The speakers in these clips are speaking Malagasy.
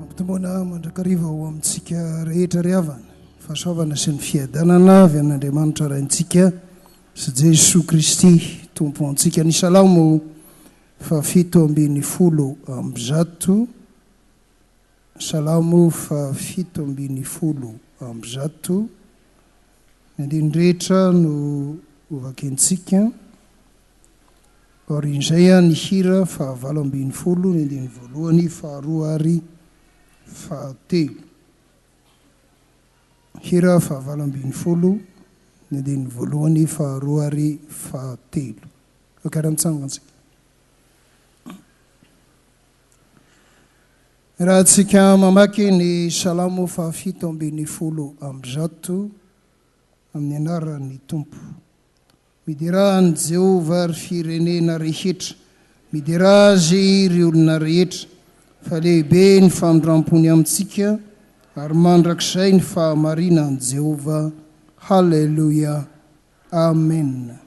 Ampitomboana mandrakariva ho amintsika rehetra ry havana, fahasoavana sy ny fiadanana avy amin'Andriamanitra Raintsika sy Jesoa Kristy Tompo antsika. Ny Salamo fahafito ambin'ny folo amby zato, Salamo fahafito ambin'ny folo amby zato, ny andininy rehetra no hovakintsika. Aorian'izay an ny hira faha valo ambin'ny folo ny andininy voalohany faharoa ary fahatelo. Hira faha valo ambin'ny folo ny andininy voalohany faharoa ary fahatelo. Kara nitsangantsika. Raha tsika mamaky ny salamo faha fito ambin'ny folo amby zato amin'ny anaran'ny Tompo. Miderà an'i Jehovah, ry firenena rehetra, miderà azy, ry olona rehetra, fa lehibe ny famindram-pony amintsika, ary mandrakizay ny fahamarinan'i Jehovah. Haleloia! Amena.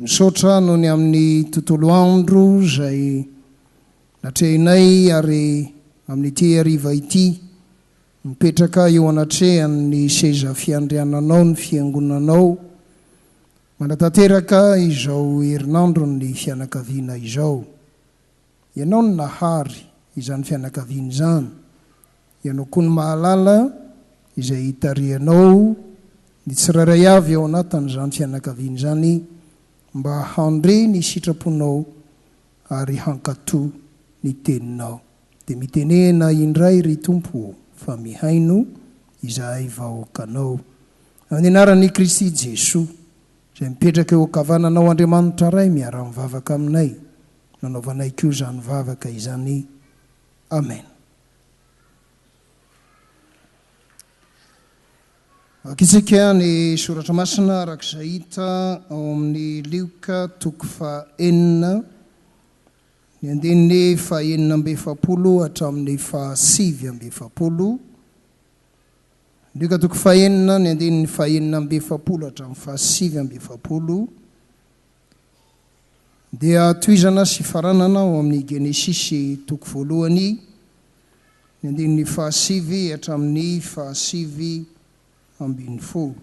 Misaotra noho ny amin'ny tontolo andro izay natrehinay ary amin'ity hariva ity mipetraka eo anatrehan'ny seza fiandriananao ny Fiangonanao manatanteraka izao herinandron'ny fianakaviana izao. Ianao no nahary izany fianakaviana izany, Ianao koa no mahalala izay hitarihanao ny tsirairay avy ao anatin'izany fianakaviana izany mba handre ny sitraponao ary hankatò ny teninao. Dia mitenena indray ry Tompo ô, fa mihaino izahay vahoakanao. Amin'ny anaran'i Kristy Jesoa. Izay mipetraka eo ankavananao Andriamanitra Ray miara-mivavaka aminay nanaovanay koa izany vavaka izany Amen. Vakitsika ny soratra masina araka izay hita ao amin'ny Lioka toko faha enina ny andininy faha enina amby efapolo hatramin'ny faha sivy amby efapolo. Lioka toko fahenina, ny andininy fahenina amby efapolo hatramin'ny fahasivy amby efapolo dia tohizana sy faranana ao amin'ny Genesisy toko voalohany, ny andininy fahasivy hatramin'ny fahasivy ambin'ny folo.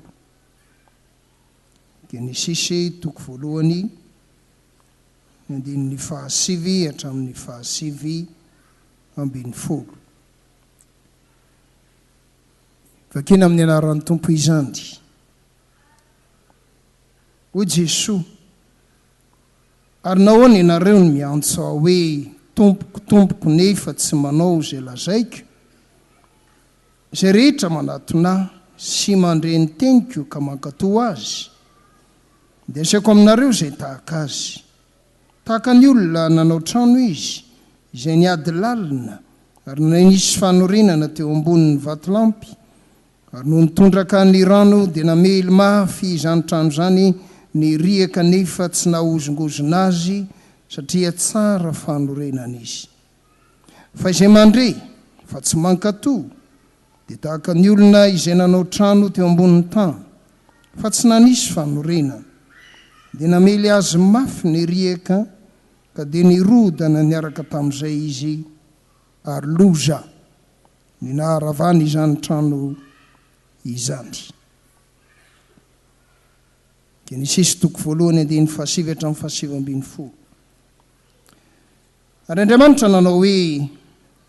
Genesisy toko voalohany, ny andininy fahasivy hatramin'ny fahasivy ambin'ny folo. Vakina amin'ny anaran'ny Tompo izany. Hoy Jesoa, ary nahoana ianareo no miantso aho hoe Tompoko, Tompoko nefa tsy manao izay lazaiko? Izay rehetra manatona ahy sy mandre ny teniko ka mankatò azy, dia asiako aminareo izay tahaka azy. Tahaka ny olona nanao trano izy, izay niady lalina, ary nony nisy fanorenana teo ambonin'ny vatolampy, ary nony tondraka ny rano dia namely mafy izany trano izany ny riaka nefa tsy nahozongozona azy satria tsara fanorenana izy. Fa izay mandre fa tsy mankatò. Dia tahaka ny olona izay nanao trano teo ambonin'ny tany, fa tsy nanisy fanorenana. Dia namely azy mafy ny riaka, ka dia nirodana niaraka tamin'izay izy, ary loza ny naharavany izany trano izany. Genesisy toko voalohany andininy fahasivy hatramin'ny fahasivy ambin'ny folo. Ary Andriamanitra nanao hoe,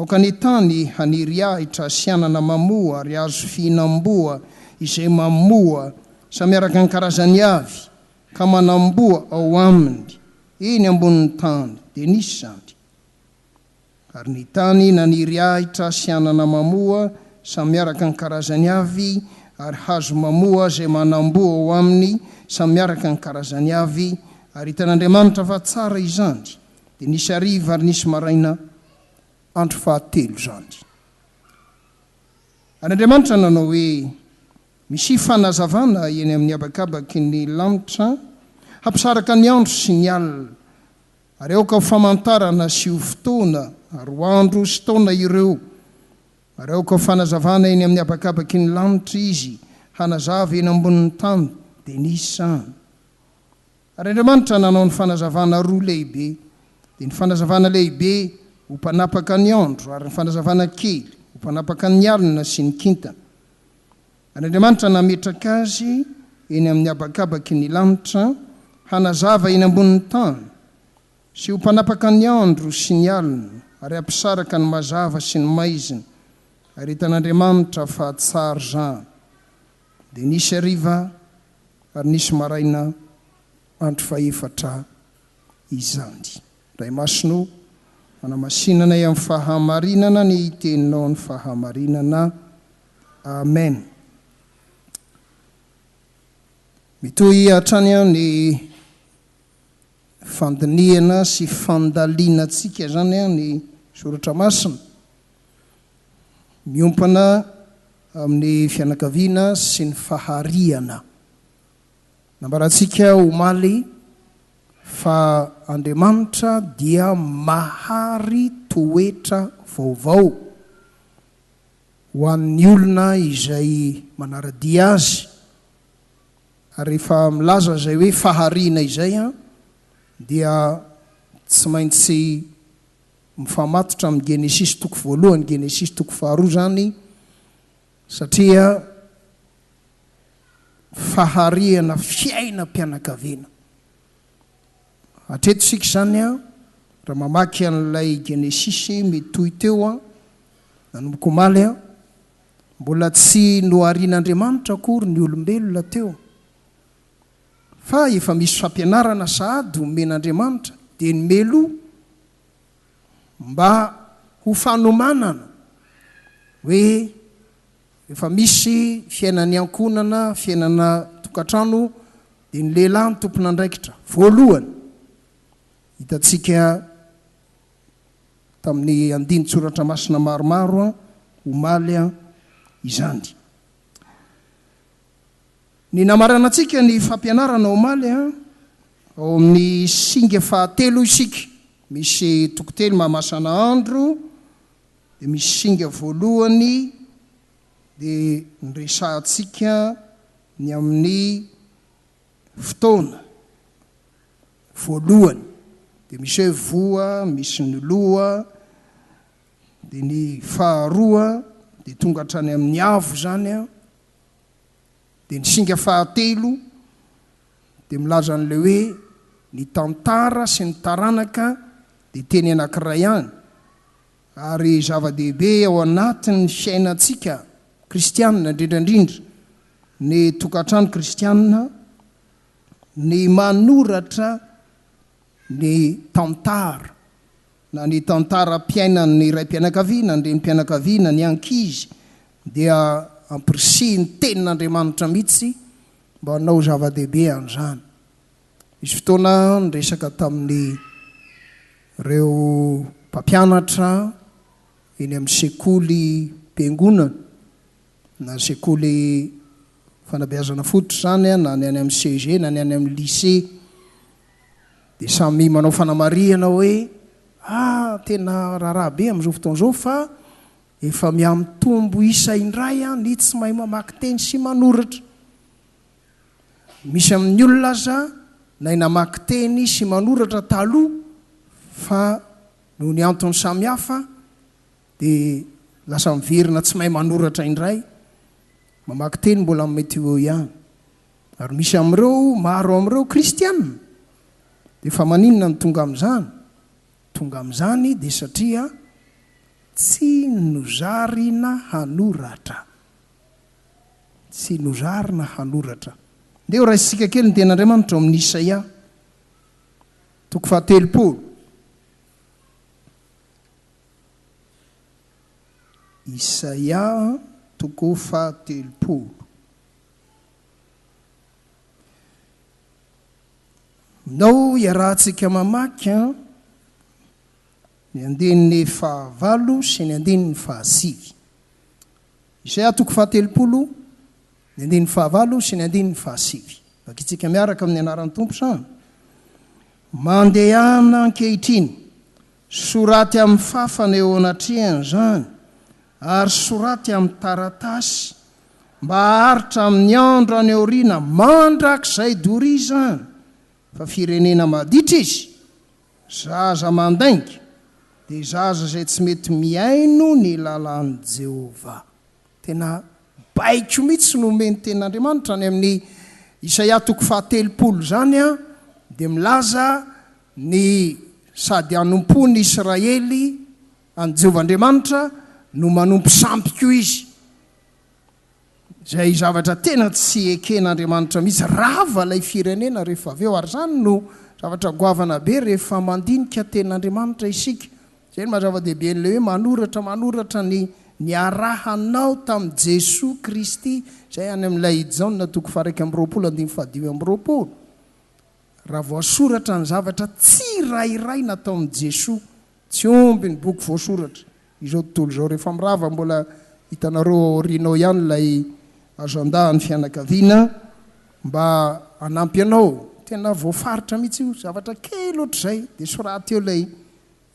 Aoka ny tany haniry ahitra sy anana mamoa ary hazo fihinam-boa izay mamoa samy araka ny karazany avy ka manam-boa ao aminy eny ambonin'ny tany, dia nisy izany. Ary ny tany naniry ahitra sy anana mamoa samy araka ny karazany avy ary hazo mamoa izay manam-boa ao aminy samy araka ny karazany avy, ary hitan'Andriamanitra fa tsara izany. Dia nisy hariva ary nisy maraina. Andro fahatelo izany. Ary Andriamanitra nanao hoe, Misy fanazavana eny amin'ny habakabaky ny lanitra, hampisaraka ny andro sy ny alina, ary aoka ho famantarana sy ho fotoana ary ho andro sy taona ireo, ary aoka ho fanazavana eny amin'ny habakabaky ny lanitra izy, hanazava eny ambonin'ny tany. Dia nisy izany. Ary Andriamanitra nanao ny fanazavana roa lehibe, dia ny fanazavana lehibe ho mpanapaka ny andro, ary ny fanazavana kely ho mpanapaka ny alina sy ny kintana. Ary Andriamanitra nametraka azy eny amin'ny habakabaky ny lanitra, hanazava eny ambonin'ny tany, sy ho mpanapaka ny andro sy ny alina, ary hampisaraka ny mazava sy ny maizina, ary hitan'Andriamanitra fa tsara izany. Dia nisy hariva ary nisy maraina andro fahefatra izany. Ray Masina o, manamasina anay amin'ny fahamarinana ny Teninao ny fahamarinana. Amen. Mitohy hatrany ny fandinihana sy fandalinantsika izany ny Soratra Masina. miompana amin'ny fianakaviana sy ny fahariana. Nambarantsika omaly fa Andriamanitra dia mahary toetra vaovao ho an'ny olona izay manara-dia Azy. Ary rehefa milaza izay hoe fahariana izay dia tsy maintsy mifamatotra amin'ny Genesisy toko voalohany, Genesisy toko faharoa izany, satria faharihana fiainam-pianakaviana. Hatreto isika izany a, raha mamaky an'ilay Genesisy mitohy teo a, nanomboka omaly a, mbola tsy noharin'Andriamanitra akory ny olombelona teo. fa efa misy fampianarana sahady omen'Andriamanitra dia ny meloa mba ho fanomanana hoe efa misy fiainan'ny ankohonana, fiainana tokantrano dia ny lehilahy no tompon'andraikitra voalohany. Hitantsika tamin'ny andinin-tsoratra masina maromaro omaly izany. Ny namaranantsika ny fampianarana omaly an, ao amin'ny singa fahatelo isika, misy toko telo mahamasana andro, dia misy singa voalohany dia niresahantsika ny amin'ny fotoana voalohany, dia misy hoe voa, misy ny loha, dia ny faharoa dia tonga hatrany amin'ny avo izany an, Dia ny singa fahatelo dia milaza an'ilay hoe ny tantara sy ny taranaka dia teny anankiray ihany, ary zava-dehibe ao anatin'ny fiainantsika kristianina, indrindra indrindra ny tokantrano kristianina, ny manoratra Ny tantara na ny tantaram-piainan'ny raim-pianakaviana, ny renim-pianakaviana, ny ankizy dia ampirisihin'ny Tenin'Andriamanitra mihitsy mba hanao zava-dehibe an'izany. Nisy fotoana aho niresaka tamin'ireo mpampianatra eny amin'ny sekolim-piangonana, na sekoly fanabeazana fototra izany na ny any amin'ny CEG na ny any amin'ny lycée. Dia samy manao fanamarihana hoe, ah, tena raharaha be amin'izao fotoana izao fa efa mihamitombo isa indray ny tsy mahay mamaky teny sy manoratra. Misy amin'ny olona aza nay namaky teny sy manoratra taloha fa noho ny antony samihafa dia lasa miverina tsy mahay manoratra indray. Mamaky teny mbola mety ho eo ihany. Ary misy amin'ireo maro amin'ireo kristiana. Dia fa maninona no tonga amin'izany? Tonga amin'izany dia satria tsy nozarina hanoratra. Tsy nozarina hanoratra. Ndeha horaisintsika kely ny tenin'Andriamanitra ao amin'ny Isaia, toko fahatelopolo. Isaia, toko fahatelopolo. Nao iarahantsika mamaky ny andininy fahavalo sy ny andininy fahasivy. Isaia toko fahatelopolo, ny andininy fahavalo sy ny andininy fahasivy. Vakitsika miaraka amin'ny anaran'ny Tompo izany. Mandehana ankehitriny, soraty amin'ny fafana eo anatrehany izany, ary soraty amin'ny taratasy mba haharitra amin'ny andro any aoriana mandrakizay doria izany fa firenena maditra izy, zaza mandainga dia zaza izay tsy mety mihaino ny lalàn'i Jehovah. Tena baiko mihitsy no omen'ny Tenin'Andriamanitra any amin'ny Isaia toko fahatelopolo izany, dia milaza ny sady hanompoan'i Israely, An'i Jehovah Andriamanitra no manompo sampy koa izy, izay zavatra tena tsy eken'Andriamanitra mihitsy. Rava ilay firenena rehefa avy eo, ary izany no zavatra goavana be rehefa mandinika Tenin'Andriamanitra isika. Izay no maha-zava-dehiben'ilay hoe manoratra manoratra ny niarahanao tamin'i Jesoa Kristy, izay any amin'ilay i Jaona toko faha-iraika amby roapolo andininy fahadimy amby roapolo. Raha voasoratra ny zavatra tsirairay nataon'i Jesoa, Tsy omby ny boky voasoratra. Izao tontolo izao rehefa mirava mbola hitanareo ao aoriana ao ihany ilay agenda an'ny fianakaviana mba hanampy anao. Tena voafaritra mihitsy io, zavatra kely ohatr'izay dia soraty eo ilay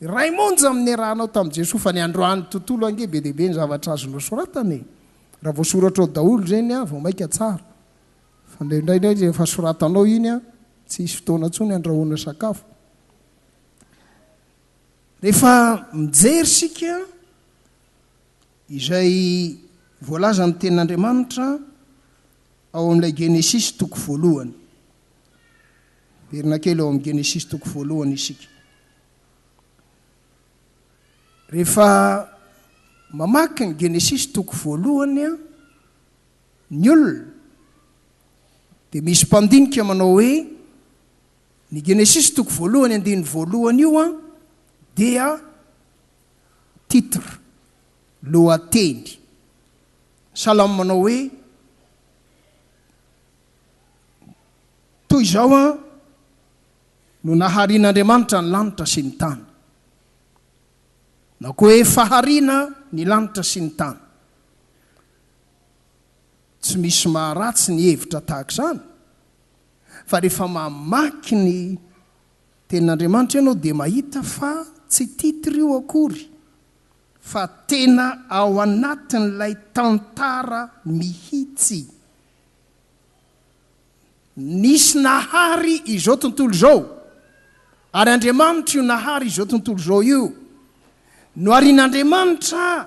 iray monja amin'ny niarahanao tamin'i Jesoa fa ny androany tontolo ange be dia be ny zavatra azonao soratana e! Raha voasoratra ao daholo ireny vao maika tsara fa indraindray rehefa soratanao iny tsy hisy fotoana intsony handrahoana sakafo. Rehefa mijery isika izay voalazan'ny tenin'Andriamanitra ao amin'ilay Genesisy toko voalohany, miverina kely ao amin'ny Genesisy toko voalohany isika. Rehefa mamaky ny Genesisy toko voalohany ny olona dia misy mpandinika manao hoe Ny Genesisy toko voalohany andininy voalohany io an, dia titre, lohateny. Ny salamo manao hoe, Toy izao an, no naharian'Andriamanitra ny lanitra sy ny tany. Na koa hoe, Fahariana ny lanitra sy ny tany. Tsy misy maharatsy ny hevitra tahaka izany. Fa rehefa mamaky ny Tenin'Andriamanitra ianao dia mahita fa tsy titre io akory fa tena ao anatin'ilay tantara mihitsy. Nisy nahary izao tontolo izao ary Andriamanitra io nahary izao tontolo izao io. Noharin'Andriamanitra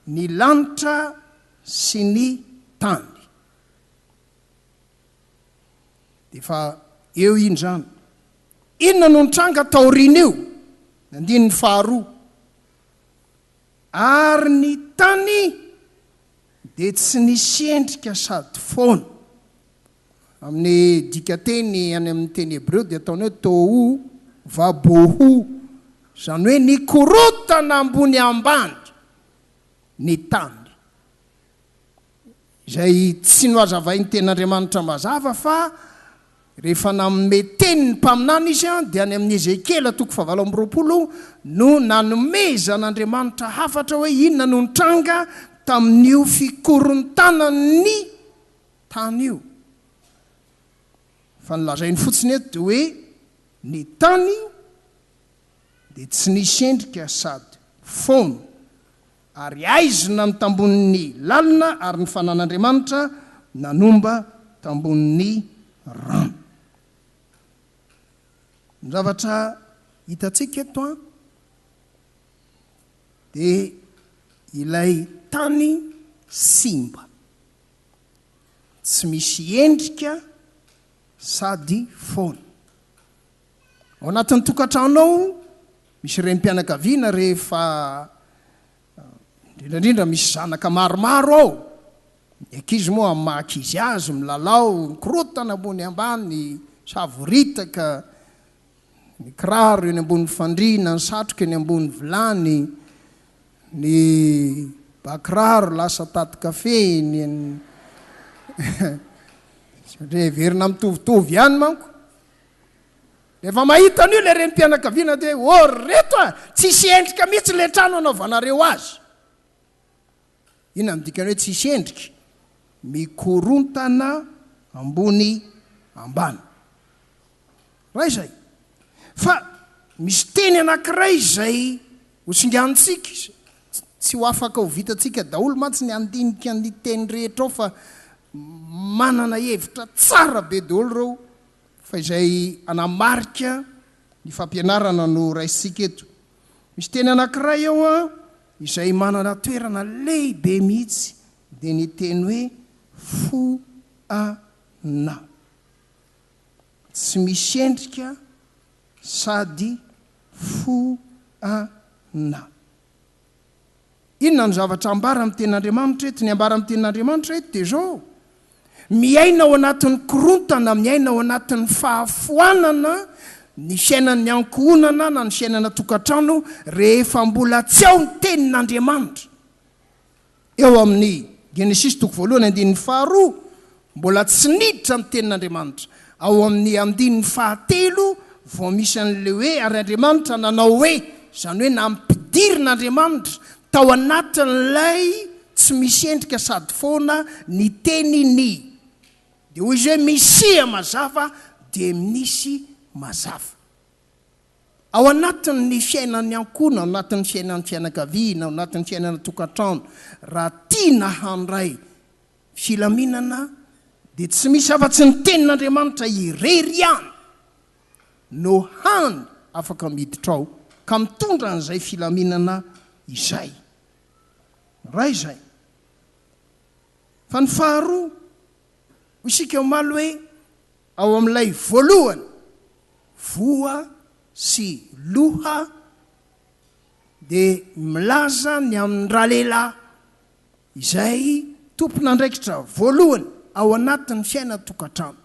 ny lanitra sy ny tany. Dia efa eo iny izany. Inona no nitranga taorian'io? Ny andininy faharoa. Ary ny tany dia tsy nisy endrika sady foana. Amin'ny dikanteny any amin'ny teny hebreo dia ataony hoe tohu vabohu, izany hoe nikorontana ambony ambany ny tany. izay tsy nohazavain'ny tenin'Andriamanitra mazava fa rehefa nanome teny ny mpaminany izy dia any amin'ny Ezekiela toko fahavalo amby roapolo no nanomezan'Andriamanitra hafatra hoe inona no nitranga tamin'io fikorontanan'ny tany io fa ny lazainy fotsiny eto dia hoe ny tany dia tsy nisy endrika sady fono Ary aizina ny tambon' ny lalina, ary ny Fanan' Andriamanitra nanomba tambon' ny rano. Ny zavatra hitantsika eto an, dia ilay tany simba, tsy misy endrika sady foana. Ao anatin'ny tokantrano ao misy renim-pianakaviana rehefa indrindraindrindra misy zanaka maromaro ao, ny ankizy moa amin'ny maha ankizy azy milalao, mikorotana ambony ambany, savoritaka, ny kiraro eny ambony fandriana, ny satroka eny ambony vilany, ny bakiraro lasa tatin-kafe, ny satria heverina mitovitovy ihany manko. Rehefa mahita an'io ilay renim-pianakaviana dia hoe, oh ry reto a! tsy hisy endrika mihitsy ilay trano hanaovanareo azy. Inona no dikan'ny hoe tsy hisy endrika? Mikorontana ambony ambany. Raha izay. Fa misy teny anankiray izay hosinganintsika, tsy ho afaka ho vitantsika daholo mantsy ny handinika ny teny rehetra ao fa manana hevitra tsara be daholo ireo fa izay hanamarika ny fampianarana no raisintsika eto. Misy teny anankiray ao izay manana toerana lehibe mihitsy, dia ny teny hoe fo ana. Tsy misy endrika sady fo ana. Inona no zavatra ambara amin'ny Tenin'Andriamanitra eto? Ny ambara amin'ny Tenin'Andriamanitra eto dia izao, Miaina ao anatin'ny korontana, miaina ao anatin'ny fahafoanana ny fiainan'ny ankohonana na ny fiainana an-tokantrano rehefa mbola tsy ao ny Tenin'Andriamanitra. Eo amin'ny Genesisy toko voalohany andininy faharoa, mbola tsy niditra ny tenin'Andriamanitra. Ao amin'ny andininy fahatelo vao misy an'ilay hoe ary Andriamanitra nanao hoe, izany hoe nampidirin'Andriamanitra tao anatin'ilay tsy misy endrika sady foana ny teniny. Dia hoy izy hoe, Misia mazava dia misy mazava. Ao anatin'ny fiainan'ny ankohona, ao anatin'ny fiainan'ny fianakaviana, ao anatin'ny fiainana tokantrano, raha tiana handray filaminana dia tsy misy afa-tsy ny Tenin'Andriamanitra irery ihany no hany afaka miditra ao ka mitondra an'izay filaminana izay. Iray izay. Fa ny faharoa, hoy isika omaly hoe. Ao amin'ilay voalohany, voa sy loha dia milaza ny amin'ny ralehilahy izay tompon'andraikitra voalohany ao anatin'ny fiainan-tokantrano.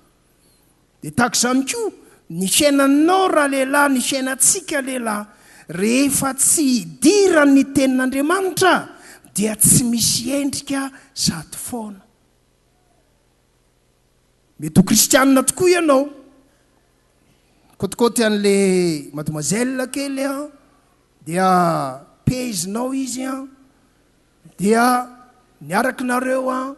Dia tahaka izany koa ny fiainanao ralehilahy, ny fiainantsika lehilahy, rehefa tsy hidiran'ny Tenin'Andriamanitra dia tsy misy endrika sady foana. Mety ho kristianina tokoa ianao. Kôtikôty an'le mademoiselle kely an, dia pehizinao izy an, dia niaraka nareo an,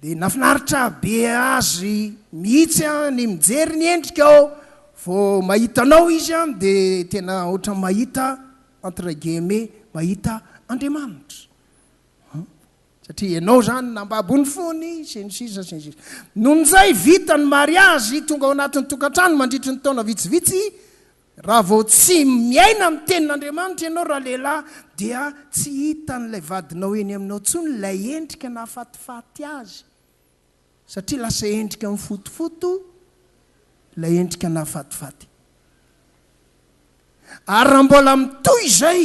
dia nafinaritra be azy mihitsy an ny mijery ny endrikao, vao mahita anao izy an dia tena ohatran'ny mahita entre guillemets mahita Andriamanitra. Satria enao izany nambabo ny fony sy ny sisa sy ny sisa. Nony izay vita ny mariazy tonga ao anatin'ny tokantrano mandritry ny taona vitsivitsy, raha vao tsy miaina ny tenin'Andriamanitra ianao raha lehilahy dia tsy hitan'ilay vadinao eny aminao intsony ilay endrika nahafatifaty azy satria lasa endrika mifotofoto ilay endrika nahafatifaty. Ary raha mbola mitohy izay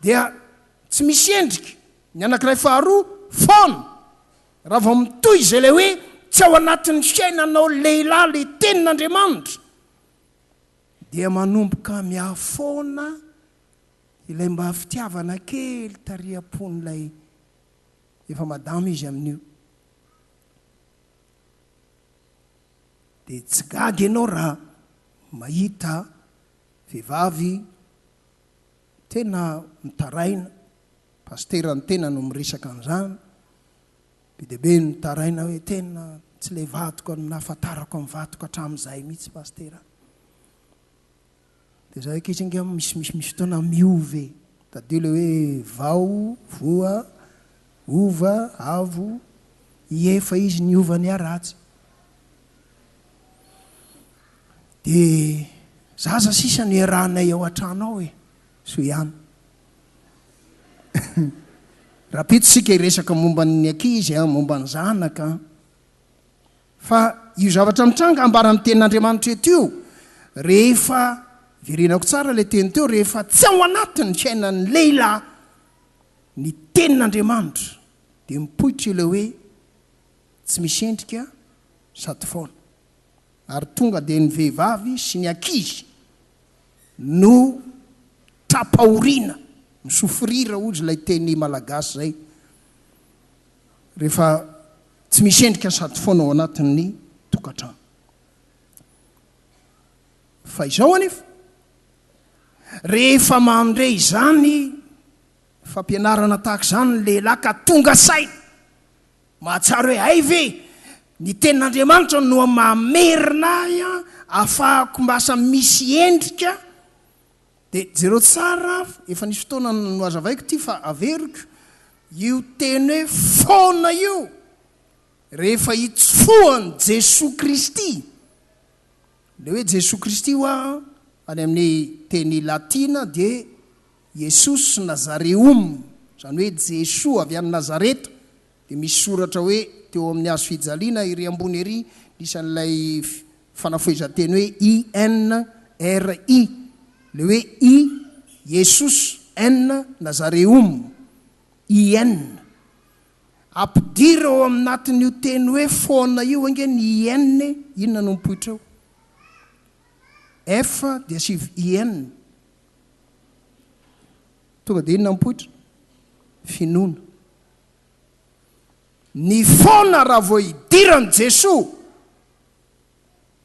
dia tsy misy endrika ny anankiray faharoa foana raha vao mitohy izay ilay hoe tsy ao anatin'ny fiainanao lehilahy ilay tenin'Andriamanitra dia manomboka mihafoana ilay mba fitiavana kely tary am-pon'ilay efa madama izy amin'io dia tsy gaga ianao raha mahita vehivavy Tena mitaraina, Pasitera ny tena no miresaka an'izany, be dia be ny mitaraina hoe tena tsy ilay vadiko no nahafantarako ny vadiko hatramin'izay mihitsy Pasitera. Dia izahay ankizy ange misy misy misy fotoana miova e, tadidio ilay hoe vao, voa, hova, avo, hiefa izy ny hova ny haratsy. De zaza sisa no iarahanay ao an-trano ao e, soa ihany. Rapito sika hiresaka momba ny ankizy a, momba ny zanaka. Fa io zavatra mitranga ambaran'ny tenin'Andriamanitra eto io, rehefa, verenako tsara ilay teny teo, rehefa tsy ao anatin'ny fiainan'ny lehilahy ny tenin'Andriamanitra, dia mipoitra ilay hoe, tsy misy endrika sady foana ary tonga dia ny vehivavy sy ny ankizy no tra-pahoriana mi-souffrir hozy ilay teny malagasy izay rehefa tsy misy endrika sady foana ao anatin'ny tokantrano. Fa izao anefa, rehefa mandre izany fampianarana tahaka izany ny lehilahy ka tonga saina, Mahatsiaro hoe hay ve ny tenin'Andriamanitra no mamerina ahy ahafahako lasa misy endrika? Dia jereo tsara, efa nisy fotoana nohazavaiko ity fa averiko, io teny hoe foana io, rehefa itsofohan'i Jesoa Kristy, ilay hoe Jesoa Kristy hoa any amin'ny teny latina dia, Yesus Nazareum, izany hoe Jesoa avy any Nazareta, dia misy soratra hoe teo amin'ny hazo fijaliana ery ambony ery ny isan'ilay fanafohezan-teny hoe INRI, ilay hoe I, Yesus, N, Nazareum, IN. Ampidiro ao amnatin'io teny hoe foana io ange ny IN e, inona no mipoitra eo? F dia sivy IN. Tonga dia inona mipoitra? Finoana. Ny foana raha vao idiran'i Jesoa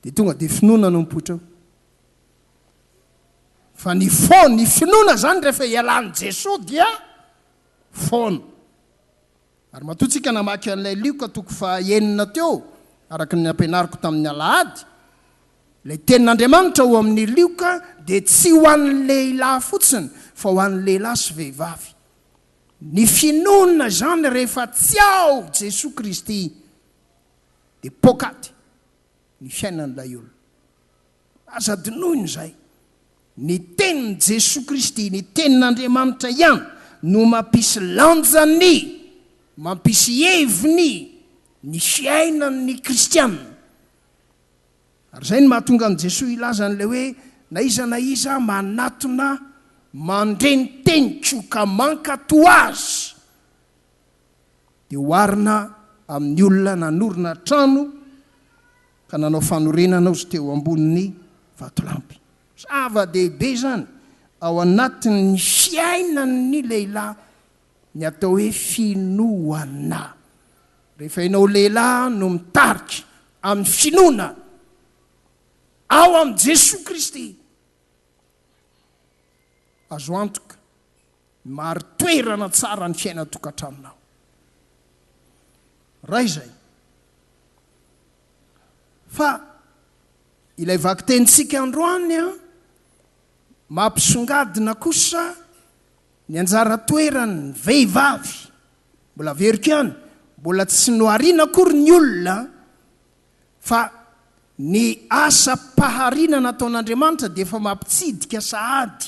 dia tonga dia finoana no mipoitra eo. Fa ny foana, ny finoana izany rehefa ialan'i Jesoa dia foana. Ary matoa tsika namaky an'ilay Lioka toko faha enina teo, araka ny nampianariko tamin'ny alahady, ilay tenin'Andriamanitra ao amin'ny Lioka dia tsy ho an'ny lehilahy fotsiny fa ho an'ny lehilahy sy vehivavy. Ny finoana izany rehefa tsy ao Jesoa Kristy dia poakaty ny fiainan'ilay olona. Aza adinoina izay. Ny tenin'i Jesoa Kristy, ny tenin'Andriamanitra ihany no mampisy lanja ny, mampisy heviny ny fiainan'ny kristiana. Ary izay no mahatonga an'i Jesoa hilaza an'ilay hoe, Na iza na iza manatona mandre ny teniko ka mankato azy, dia oharina amin'ny olona nanorina trano ka nanao fanorenana ozy teo ambonin'ny vatolampy. Zava-dehibe izany ao anatin'ny fiainan'ny lehilahy ny atao hoe finoana. Rehefa ianao lehilahy no mitarika amin'ny finoana ao amin'i Jesoa Kristy Azo antoka ny mahari-toerana tsara ny fiainan-tokantranonao. Ray izay. Fa ilay vakitenintsika androany mampisongadina kosa ny anjara toeran'ny vehivavy. Mbola averiko ihany, mbola tsy nohariana akory ny olona Fa ny asam-pahariana nataon'Andriamanitra dia efa mampitsidika sahady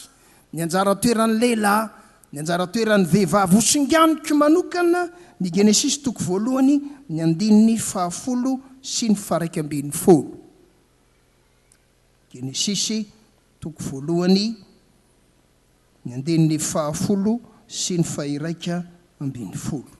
ny anjara toeran'ny lehilahy, ny anjara toeran'ny vehivavy. Hosinganiko manokana ny Genesisy toko voalohany, ny andininy fahafolo sy ny faharaika ambin'ny folo. Genesisy toko voalohany, ny andininy fahafolo sy ny fahiraika ambin'ny folo.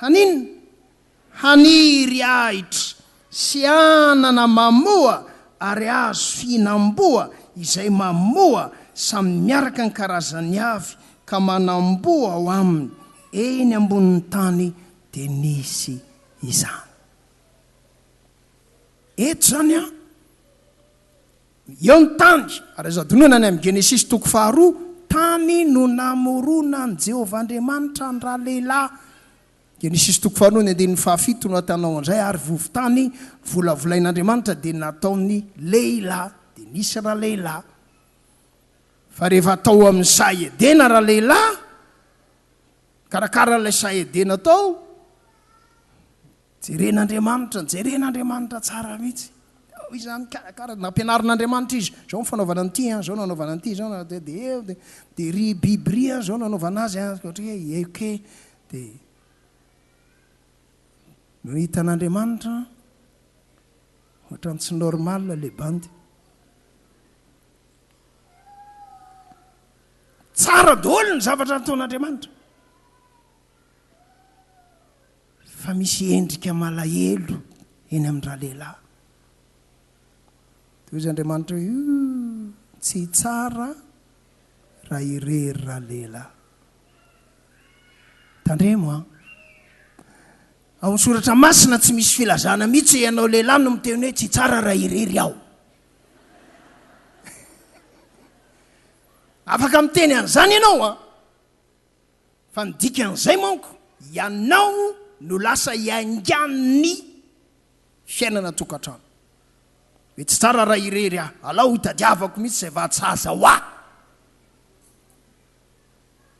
Haninona? Haniry ahitra sy anana mamoa ary hazo fihinam-boa izay mamoa samy miaraka ny karazany avy ka manam-boa ao aminy eny ambonin'ny tany dia nisy izany eto izany an! Eo ny tany, ary azo hadinoina any amin'ny Genesisy toko faharoa, tany no namoronan'i Jehovah Andriamanitra ny ralehilahy. Genesisy toko faharoa ny andininy fahafito no ahitanao an'izay, ary vovo-tany volavolain'Andriamanitra dia nataony lehilahy, dia nisy ralehilahy. Fa rehefa tao amin'ny saha Edena ralehilahy, nikarakara an'ilay saha Edena tao, Jeren'Andriamanitra, jeren'Andriamanitra tsara mihitsy. Ao izany karakara, nampianarin'Andriamanitra izy, izao ny fanaovana an'ity an, izao no anaovana an'ity, izao no dia dia eo dia dia ry biby ry an, izao no anaovana azy an, ohatra hoe eke dia no hitan'Andriamanitra ohatran'ny tsy normal ilay bandy. Tsara daholo ny zavatra nataon'Andriamanitra. Fa misy endrika malahelo eny amin'ny ralehilahy. Dia hoy Andriamanitra hoe, Ooh, tsy tsara raha irery ralehilahy. Tandremo an! Ao amin'ny Soratra Masina tsy misy filazana mihitsy hoe ianao lehilahy no miteny hoe tsy tsara raha irery aho. Afaka miteny an'izany ianao an! Fa ny dikan'izay manko, ianao no lasa iaingan'ny fiainana an-tokantrano. Mety tsy tsara raha irery aho. Alao hotadiavako mihitsy izay vahasaza ho ahy.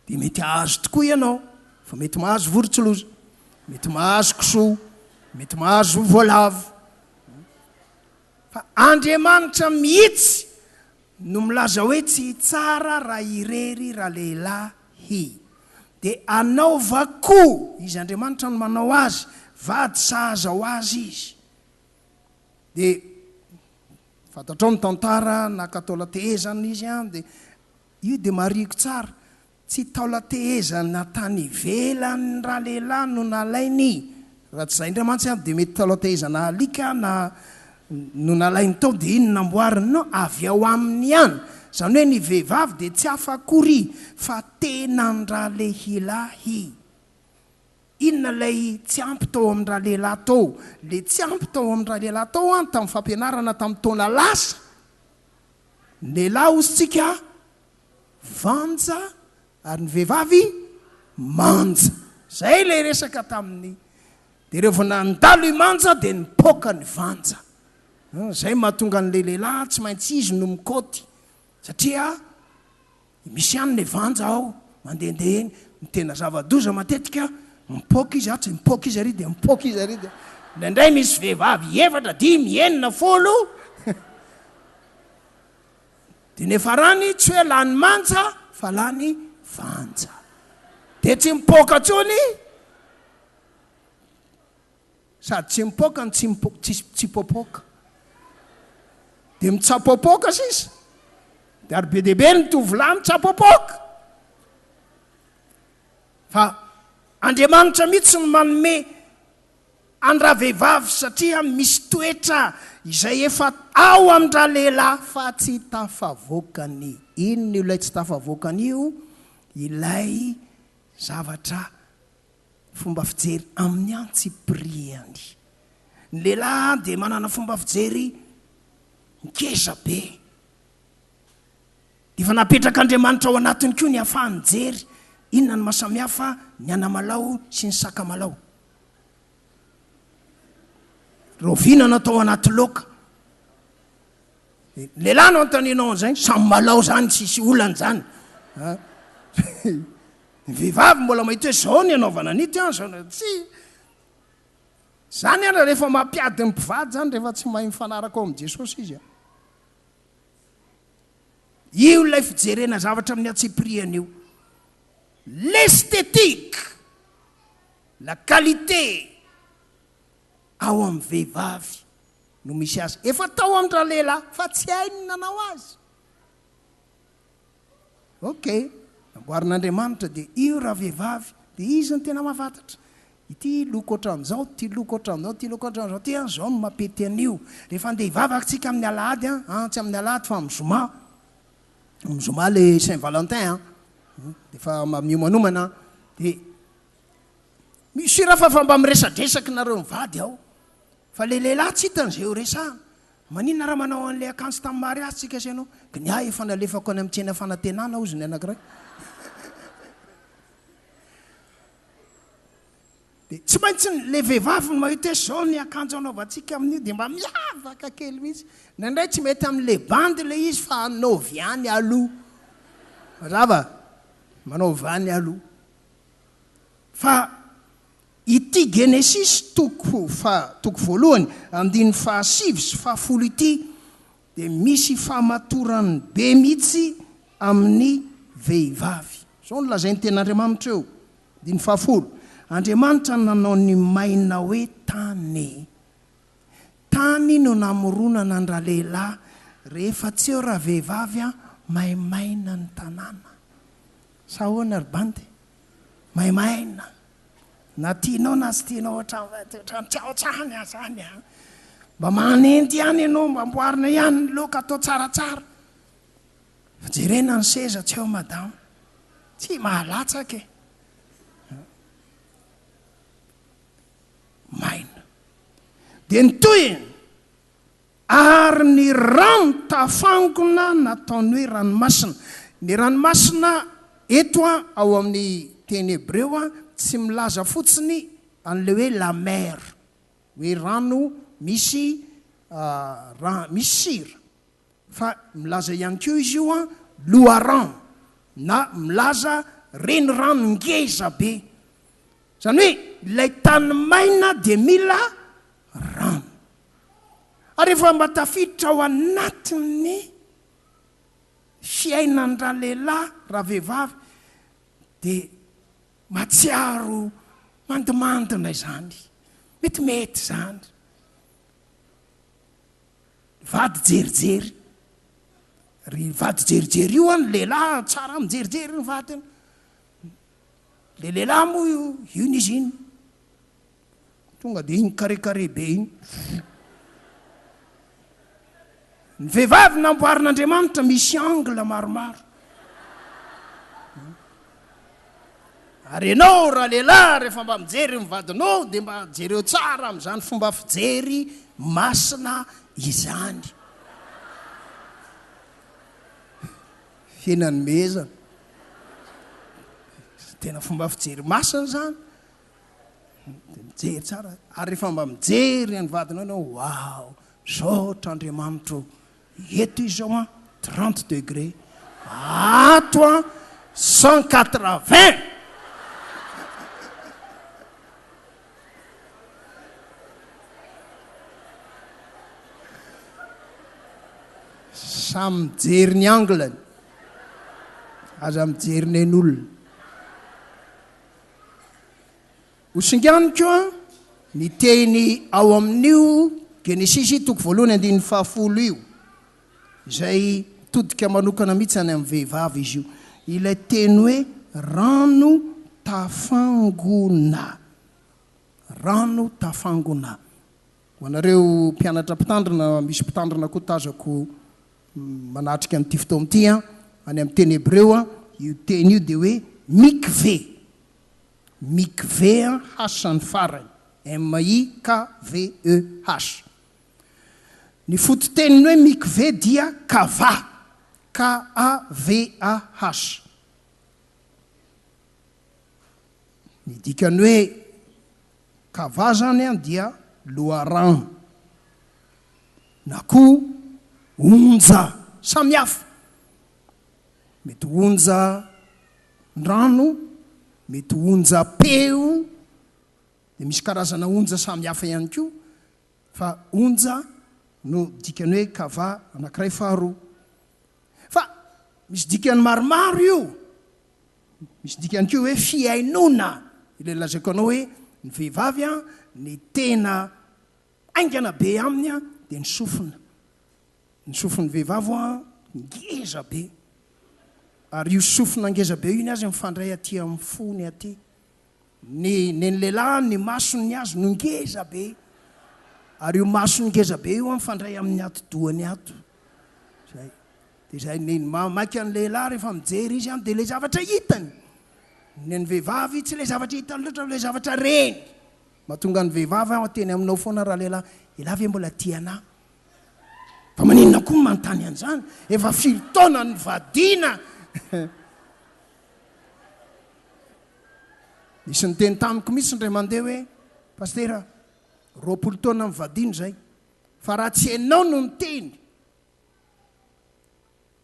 Dia mety hahazo tokoa ianao, fa mety mahazo vorontsiloza, mety mahazo kisoa, mety mahazo voalavo. Fa Andriamanitra mihitsy no milaza hoe tsy hitsara raha irery ralehilahy hy. Dia anaovako, izy Andriamanitra no manao azy, vady sahaza ho azy izy. Dia fantatrao ny tantara, naka taolan-tehezana izy an, dia io dia marihiko tsara. Tsy taolan-tehezana tany ivelan'ny ralehilahy no nalainy raha tsy izay indray mantsy an dia mety taolan-tehezana alika na no nalainy tao dia iny namboariny non avy ao aminy ihany izany hoe ny vehivavy dia tsy hafa akory fa tenan-dralehilahy inona ilay tsy ampy tao amin'ny ralehilahy tao ilay tsy ampy tao amin'ny ralehilahy tao an tamin'ny fampianarana tamin'ny taona lasa ny lehilahy ozy tsika vanja ary ny vehivavy manja. Izay ilay resaka tamin'ny dia revo nandalo i manja dia nipoaka ny vanja. Izay mahatonga an'ilay lehilahy tsy maintsy izy no mikaoty satria misy ihany ilay vanja ao mandehandeha eny. Ny tena zava-doza matetika mipoaka izy atsy, mipoaka izy ary dia mipoaka izy ary dia indraindray misy vehivavy efatra, dimy, enina, folo. Dia nefarany tsy hoe lany manja fa lany vanja. Dia tsy mipoaka intsony sady tsy mipoaka no tsy mipo, tsy, tsy popoka. Dia mitsapopoka sisa. Dia ary be dia be ny tovolahy mitsapopoka. Fa Andriamanitra mihitsy no manome an-dravehivavy satria misy toetra izay efa ao amin-dralehilahy fa tsy tafavoakany. Inona io ilay tsy tafavoakany io? Ilay zavatra fomba fijery amin'ny antsipiriany. Ny lehilahy dia manana fomba fijery ngeza be. Dia efa napetrak'Andriamanitra ao anatiny koa ny ahafaha-nijery. Inona no maha-samihafa ny anamalaho sy ny sakamalaho? Rahoviana no atao anaty loka? Lehilahy no anontanianao an'izay? Samy malao izany, tsisy olana izany. Ny vehivavy mbola mahita hoe izao ny anaovana an'ity an, izao tsy. Izany ary rehefa mampiady ny mpivady izany rehefa tsy mahay mifanaraka ao amin'i Jesosy izy an. Io ilay fijerena zavatra amin'ny antsipirihany io. L'esthétique. La qualité ao amin'ny vehivavy no misy azy. Efa tao amin-dralehilahy fa tsy hainy ny nanao azy. Ok, namboarin'Andriamanitra dia io ravehivavy dia izy no tena mahafatatra. Ity loko ohatran'izao, ity loko ohatran'izao, ity loko ohatran'izao, ity an izao no mampety an'io. Rehefa andeha hivavaka tsika amin'ny alahady an, an tsy amin'ny alahady fa amin'ny zoma, amin'ny zoma ilay Saint Valentin an, dia efa miomanomana an, dia Monsieur Rafa fa mba miresadresaky nareo mivady ao fa le lehilahy tsy hitany zay ho resahana maninona raha manao anle akanjo tam mariazy tsika sy anao ky ny ahy efa nalefako any am tsena fanatenana ozy ny anakiray de tsy maintsy ny le vehivavy ny mahita hoe zao ny akanjo anaovantsika aminio de mba miavaka kely mihitsy na indray tsy mety amle bandy le izy fa anaovy any aloha mazava manaovy any aloha Fa ity Genesisy toko faha, toko voalohany, andininy faha sivy sy faha folo ity dia misy famatorany be mihitsy amin'ny vehivavy. Izao no lazain'ny Tenin'Andriamanitra eo, andininy faha folo, Andriamanitra no nanao ny maina hoe tany. Tany no namoronana ny ralehilahy, rehefa tsy eo ravehivavy an, maimaina ny tanàna. Sa ahoana ry bandy? Maimaina! Na tianao na tsy tianao hatrany hatrany tsy aotra any aza any a! Mba manenty ihany ianao, mba amboarina ihany ny loka, atao tsaratsara. Fa jerena ny seza tsy eo madama. Tsy mahalatsaka e! Maina. Dia ny tohiny, Ary ny rano tafangona nataony hoe ranomasina. Ny ranomasina eto ao amin'ny teny hebreo tsy milaza fotsiny an'ilay hoe la mer, hoe rano misy rano misy sira, fa milaza ihany koa izy io loharano na milaza renirano ngeza be. Izany hoe ilay tany maina dia mila rano. Ary efa mba tafiditra ao anatin'ny fiainan-dralehilahy, ravehivavy, dia mahatsiaro mandimandina izany. Metimety izany. Vady jerijery. Ry vady jerijery io an, lehilahy tsara mijerijery ny vadiny. Le lehilahy moa io, io n'izy iny. Tonga dia iny carré carré be iny. Ny vehivavy namboarin'Andriamanitra misy angle maromaro. Ary ianao raha lehilahy rehefa mba mijery ny vadinao dia mba jereo tsara amin'izany fomba fijery masina izany. Hena nomezana. Tena fomba fijery masina izany. Dia mijery tsara, ary rehefa mba mijery an'i vadinao ianao, waouh, misaotra Andriamanitro ô, eto izao an, 30 degré, ato an, 180! Samy mijery ny angle-ny, aza mijery nen'olona. Ho singaniny koa ny teny ao amin'io Genesisy toko voalohany andininy fahafolo io, izay mitodika manokana mihitsy any amin'ny vehivavy izy io, ilay teny hoe rano tafangona. Rano tafangona. Ho anareo mpianatra mpitandrina, misy mpitandrina koa tazako manatrika an'ity fotoana ity an, any amin'ny teny hebreo io teny io dia hoe mikve, mikve an, H ny farany, M-i-k-v-e-h. Ny fototeniny hoe mikve dia kava, K-a-v-a-h. Ny dikany hoe Kava izany dia loharano na koa onja samihafa. Mety onjan-drano, mety onjam-peo, dia misy karazana onja samihafa ihany koa, fa onja no dikan'ny hoe kava anankiray faharoa. Fa misy dikany maromaro io. Misy dikany koa hoe fihainoana, ilay lazaiko anao hoe ny vehivavy an, ny tena haingana be aminy an dia ny sofina. Ny sofin'ny vehivavy an ngeza be, ary io sofina ngeza be io ny azy mifandray aty amin'ny fony aty, Ny nen'ny lehilahy ny masony ny azy no ngeza be ary io masony ngeza be io an mifandray amin'ny atidohany ato. Zay. Dia izay ny maika an'ny lehilahy rehefa mijery izy an dia ilay zavatra hitany. Ny an'ny vehivavy tsy ilay zavatra hitany loatra fa ilay zavatra reny. Mahatonga ny vehivavy an teny aminao foana raha lehilahy, ialahy ve mbola tia anah? Fa maninona koa no manontany an'izany? Efa firy taona no nivadiana? Nisy niteny tamiko mihitsy indray mandeha hoe, Pasitera, roapolo taona mivadiana izay, fa raha tsy ianao no niteny,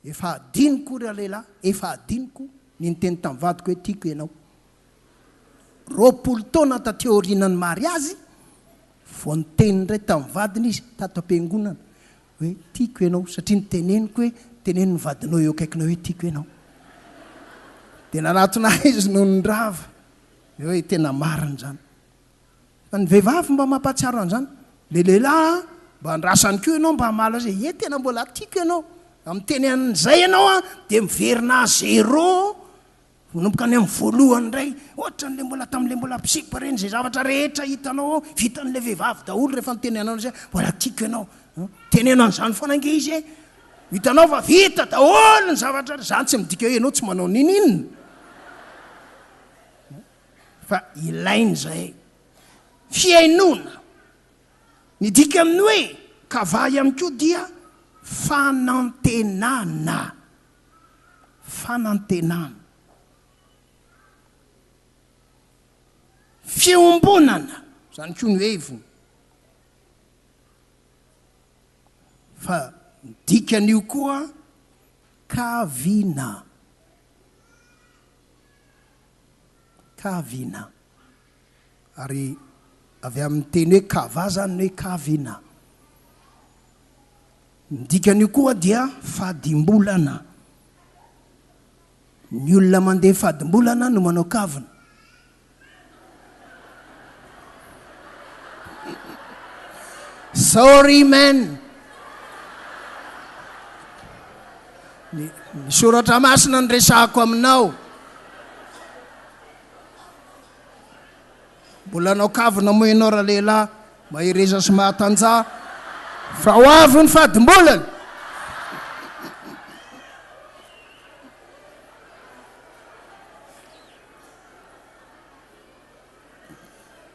efa hadinoko ry lehilahy, efa hadinoko ny niteny tamin'ny vadiko hoe tiako ianao. Roapolo taona taty aorianan'ny mariazy, vao niteny indray tamin'ny vadiny izy, tato am-piangonana, hoe tiako ianao satria ny teneniko hoe teneno ny vadinao eo akaikinao hoe tiako ianao dia nanatona ahy izy noho ny rava dia hoe tena marina izany fa ny vehivavy mba mampahatsiaro an'izany le lehilahy mba andrasany koa ianao mba hamaly azy hoe e tena mbola tiako ianao amin'ny teny an'izay ianao a dia miverina zéro Manomboka any amin'ny voalohany indray, ohatran'ilay mbola tamin'ilay mbola mpisipa ireny, izay zavatra rehetra hitanao ao, vitan'ilay vehivavy daholo rehefa nitenenanao an'izy hoe mbola tiako ianao. Teneno an'izany foana ange izy e. Hitanao fa vita daholo ny zavatra, izany tsy midika hoe ianao tsy manao n'inon'inona. Fa ilaina izay. Fihainoana. Ny dika amin'ny hoe kavaha ihany koa dia fanantenana. fanantenana, fiombonana, izany koa no heviny fa ny dikan'io koa kavina, kavina. Ary avy amin'ny teny hoe kavah izany ny hoe kavina. Ny dikan'io koa dia fadimbolana. Ny olona mandeha fadimbolana no manao kavina. Sorry man! Ny soratra masina no resahako aminao. Mbola hanao kavina moa ianao ralehilahy mahereza sy mahatanjaha fa ho avy ny fadim-bolana.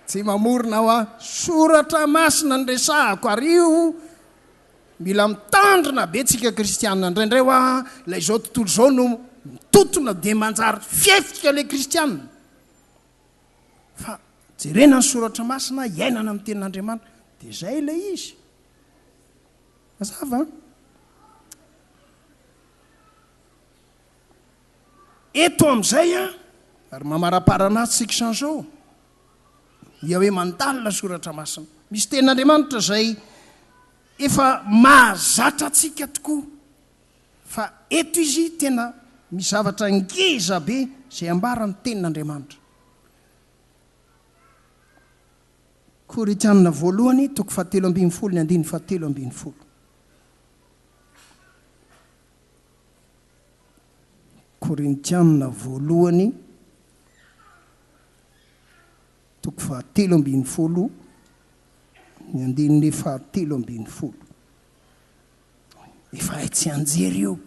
Tsy mamorona hoa, soratra masina no resahako ary io Mila mitandrina be tsika kristiana indraindray hoa ilay izao tontolo izao no mitotona dia manjary fihetsika ilay kristiana fa jerena ny soratra masina iainana amin'ny tenin'Andriamanitra dia izay ilay izy mazava eto amin'izay a ary mamaraparana azy tsy kisanzao Yahweh mandalina soratra masina. Misy tenin'Andriamanitra izay efa mahazatra antsika tokoa, fa eto izy tena misy zavatra ngeza be izay ambara ny tenin'Andriamanitra. Korintianina voalohany toko fahatelo ambin'ny folo ny andininy fahatelo ambin'ny folo. Korintianina voalohany Toko fahatelo ambin'ny folo, ny andininy fahatelo ambin'ny folo. Efa hay tsianjery io.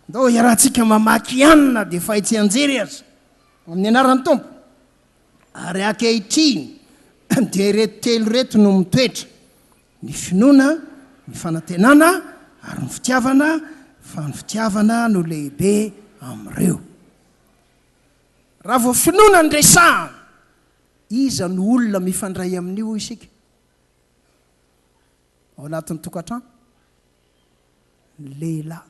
Ndao iarahantsika mamaky ihany na dia efa hay tsianjery aza, amin'ny anaran'ny Tompo. Ary ankehitriny dia ireto telo ireto no mitoetra, ny finoana, ny fanantenana ary ny fitiavana, fa ny fitiavana no lehibe amin'ireo. Raha vao finoana ny resahana, iza no olona mifandray amin'io hoy isika? Ao anatin'ny tokantrano? Ny lehilahy.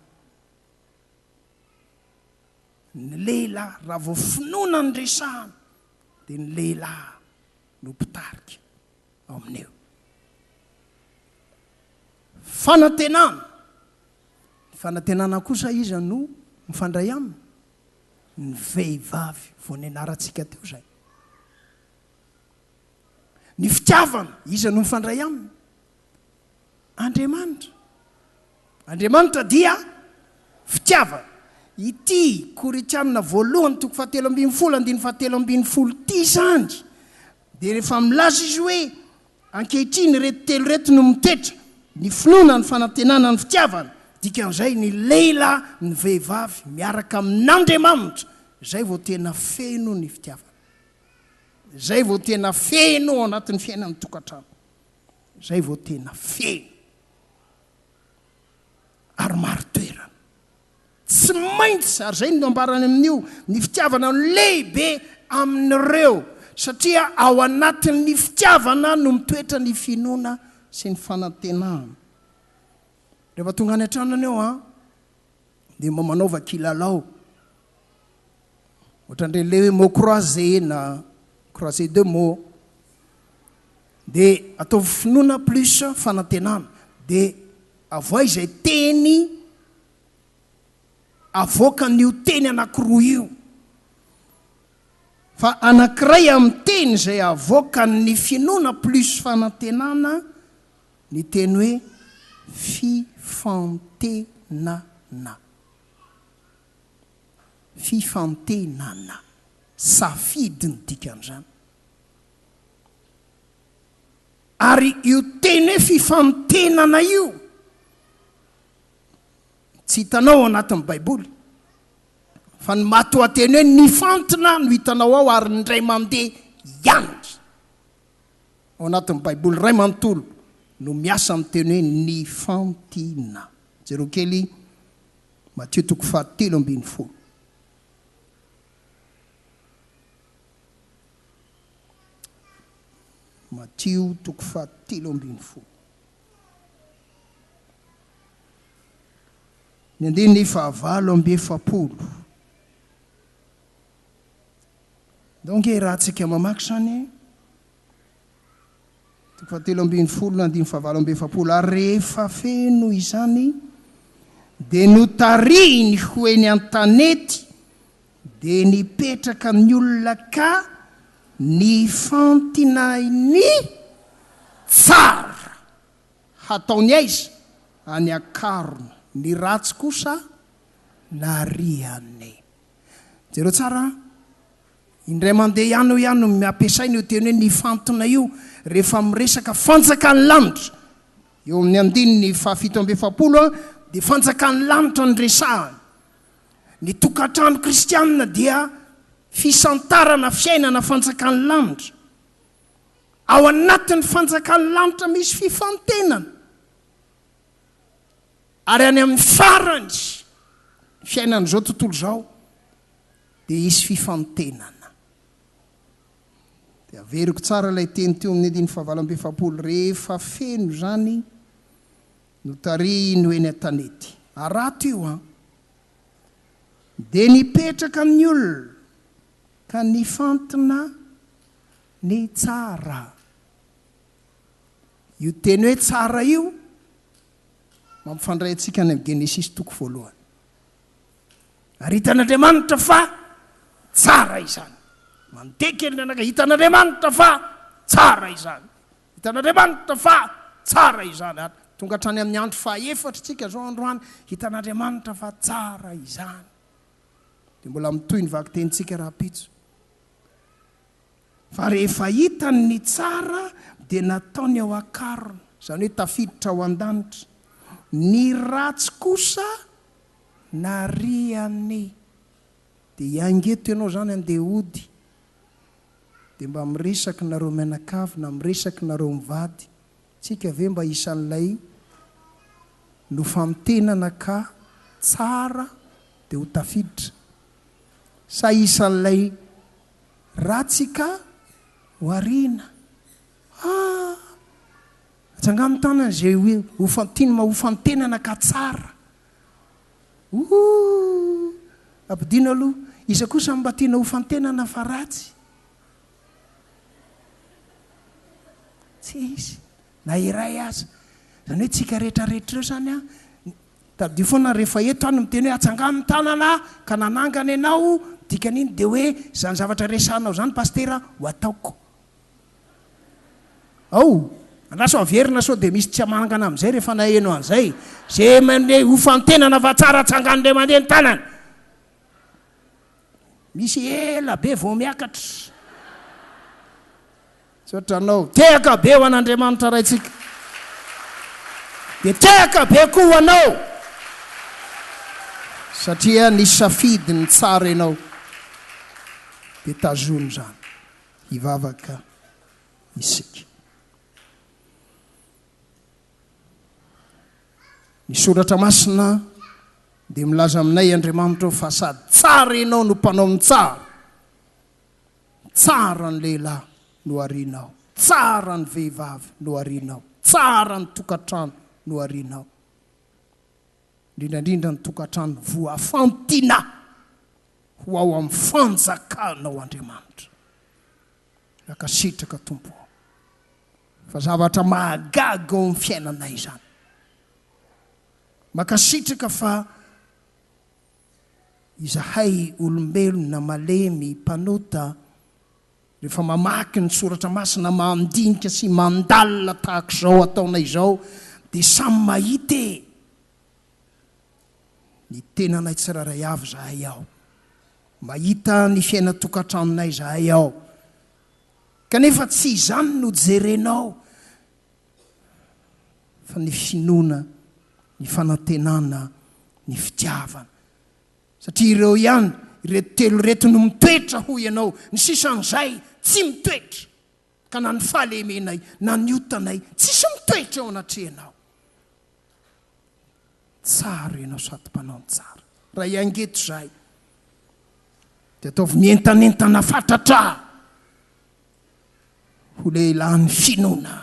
Ny lehilahy, raha vao finoana ny resahana, dia ny lehilahy no mpitarika ao amin'io. Fanantenana. Ny fanantenana kosa iza no mifandray aminy? ny vehivavy vao nianarantsika teo izay. Ny fitiavana, iza no mifandray aminy? Andriamanitra. Andriamanitra dia fitiavana. Ity Korintianina voalohany toko fahatelo ambin'ny folo andininy fahatelo ambin'ny folo ity izany dia rehefa milaza izy hoe Ankehitriny ireto telo ireto no mitetra, ny finoana, ny fanantenana, ny fitiavana, dikan'izay ny lehilahy, ny vehivavy miaraka amin'Andriamanitra, izay vao tena feno ny fitiavana, izay vao tena feno ao anatin'ny fiainan'ny tokantrano, izay vao tena feno ary marin-toerana. Tsy maintsy, ary izay no nambarany amin'io, ny fitiavana no lehibe amin'ireo, satria ao anatin'ny fitiavana no mitoetra ny finoana sy ny fanantenana. Rehefa tonga any an-trano ianao, dia mba manaova kilalao. Ohatran'ireny le hoe mots croisés na croisés de mots. Dia ataovy finoana plus fanantenana. Dia avohay izay teny avoakan'io teny anankiroa io. Fa anankiray amin'ny teny izay avoakan'ny finoana plus fanantenana ny teny hoe fifantenana. Fifantenana, safidy ny dikan'izany. Ary io teny hoe fifantenana io, tsy hitanao ao anatin'ny Baiboly. Fa ny matoanteny hoe nifantina no hitanao ao ary ny indray mandeha ihany. Ao anatin'ny Baiboly iray manontolo no miasa amin'ny teny hoe nifantina. Jereo kely. Matio toko faha telo ambin'ny folo. Matio toko faha telo ambin'ny folo. Ny andininy faha valo amby efapolo. Ndao nge raha tsika mamaky izany e. Toko fahatelo ambin'ny folo na andininy fahavalo amby efapolo Ary rehefa feno izany dia notarihiny ho eny an-tanety dia nipetraka ny olona ka nifantinay ny tsara hataony aiza any an-karona ny ratsy kosa narihany jereo tsara an Indray mandeha ihany aho ihany no ampiasaina io teny hoe nifantina io rehefa miresaka fanjakan'ny lanitra. Eo amin'ny andininy fahafito amby efapolo dia fanjakan'ny lanitra no resahana. Ny tokantrano kristianina dia fisantarana fiainana fanjakan'ny lanitra. Ao anatin'ny fanjakan'ny lanitra misy fifantenana. Ary any amin'ny farany ny fiainan'izao tontolo izao. Dia hisy fifantenana. Dia averiko tsara ilay teny teo amin'ny andininy fahavalo amby efapolo, rehefa feno izany notarihin'ny ho eny an-tanety. Arato io an! Dia nipetraka amin'ny olona ka nifantina ny tsara. Io teny hoe tsara io mampifandray antsika any amin'ny Genesisy toko voalohany. Ary hitan'Andriamanitra fa tsara izany. Mandeha kely ny anaka, hitan'Andriamanitra fa tsara izany. Hitan'Andriamanitra fa tsara izany. Ary tonga hatrany amin'ny andro fahaefatra tsika zao androany, hitan'Andriamanitra fa tsara izany. Dia mbola mitohy ny vakitentsika rahampitso. Fa rehefa hitany ny tsara dia nataony ao an-karona, izany hoe tafiditra ao an-danitra, ny ratsy kosa nariany. Dia hiainga eto ianao izany handeha hody, dia mba miresaka nareo mianakavy na miresaka nareo mivady, tsika ve mba isan'ilay nofamintenana ka tsara dia ho tafiditra? Sa isan'ilay ratsy ka wariana ah. Ajangano tanana izay hofantin hofantenana ka tsara ooh. Ampidino aloha iza kosa mba tiana hofantenana fa ratsy? Tsy hisy na iray aza. Izany hoe tsika rehetra rehetra ireo izany an, Tadidio foana rehefa eto aho no miteny hoe atsangano ny tanana ka nanangana ianao, dikan'iny dia hoe izany zavatra resahanao izany Pasitera ho ataoko ao. Andraso averina sao dia misy tsy hamanangana amin'izay rehefa naheno an'izay. Ze mandeha hofantenana fa tsara tsangano dia mandeha ny tanana. Misy ela be vao miakatra. Tsy ohatranao. Tehaka be ho an'Andriamanitra Raintsika, dia tehaka be koa ho anao, satria nisafidy ny tsara ianao. Dia tazono izany. Hivavaka isika. Ny Soratra Masina dia milaza aminay, Andriamanitra ô, fa sady tsara ianao no mpanao ny tsara, Tsara ny lehilahy no arianao, tsara ny vehivavy no arianao, tsara ny tokantrano no arianao, indrindra indrindra ny tokantrano voafantina ho ao amin'ny fanjakanao Andriamanitra. Mankasitraka Tompo o! Fa zavatra mahagaga ao amin'ny fiainanay izany. Mankasitraka fa. Izahay olombelona malemy mpanota, rehefa mamaky ny soratra masina mandinika sy mandalina tahaka izao ataonay izao dia samy mahita e! ny tenanay tsirairay avy izahay ao, mahita ny fiainan-tokantranonay izahay ao, kanefa tsy izany no jerenao fa ny finoana, ny fanantenana, ny fitiavana. Satria ireo ihany, ireto telo ireto no mitoetra hoy ianao, ny sisan'izay tsy mitoetra, ka na ny fahalemenay na ny otanay tsisy mitoetra eo anatrehanao. Tsara ianao sady mpanao ny tsara. Raha hiaingeto izahay, dia ataovy mientanentana fatratra. ho lehilahin'ny finoana,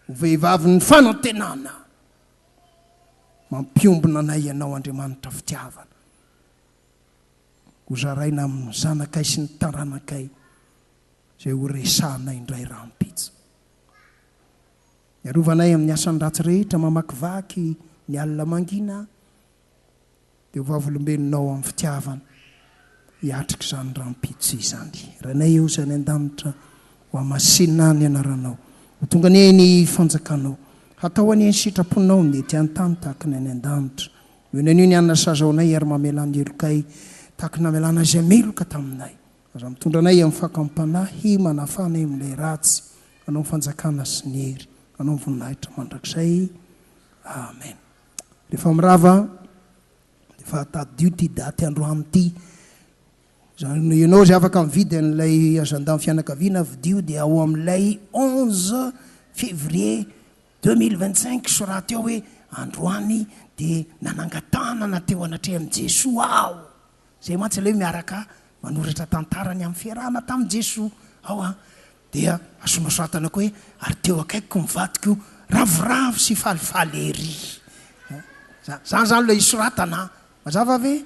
ho vehivavin'ny fanantenana. Mampiombona anay Ianao, Andriamanitra fitiavana. Hozaraina amin'ny zanakay sy ny taranakay izay horesahanay indray rahampitso. Miarovana ahy amin'ny asan-dratsy rehetra, mamakivaky ny alina mangina aho. dia ho vavolombelonao amin'ny fitiavana hiatrika izany rahampitso izany. Rainay eo izay any an-danitra, hohamasinina ny anaranao, ho tonga anie ny fanjakanao, hatao anie ny sitraponao ny ety an-tany tahaka ny any an-danitra. Eo ny anio ny hanina sazaonay ary mamelà ny helokay tahaka ny namelànao izay meloka taminay. Aza mitondra anay amin'ny fakam-panahy manafana eo amin'ilay ratsy. Anao ny fanjakana sy ny hery, anao ny voninahitra mandrakizay. Amen. Rehefa mirava aho, efa tadidio ity daty androany ity. Izany hoe ianao izay afaka mividy an'ilay agenda-n'ny fianakaviana, vidio dia ao amin'ilay onze février deux mille vingt cinq soraty ao hoe androany dia nanangan-tanana teo anatrehan'i Jesoa aho. Izay mantsy ilay hoe miaraka manoratra tantara ny amin'ny fiarahana tamin'i Jesoa ao an. Dia asonoratana koa hoe, ary teo akaikiko ny vadiko ravoravo sy falifaly ery. Zany zany zany ilay isoratana an! Mazava ve?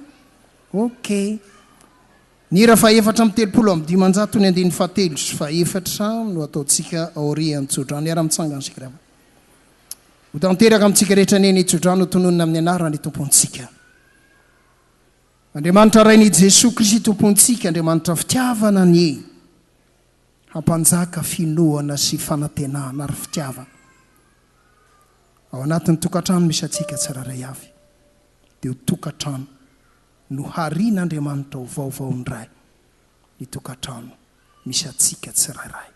Ok. Ny hira fahefatra amby telopolo amby dimanjato ny andininy fahatelo sy fahefatra no ataontsika aorian'ny tsodrano. Miara-mitsangana isika ry havana. Ho tanteraka amintsika rehetra anie ny tsodrano ho tononina amin'ny anaran'ny Tompontsika. Andriamanitra Rain'i Jesoa Kristy Tompontsika, Andriamanitra fitiavana anie. hampanjaka finoana sy fanantenana ary fitiavana ao anatin'ny tokantrano misy antsika tsirairay avy, dia ho tokantrano noharian'Andriamanitra ho vaovao indray ny tokantrano misy antsika tsirairay.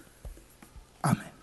Amen.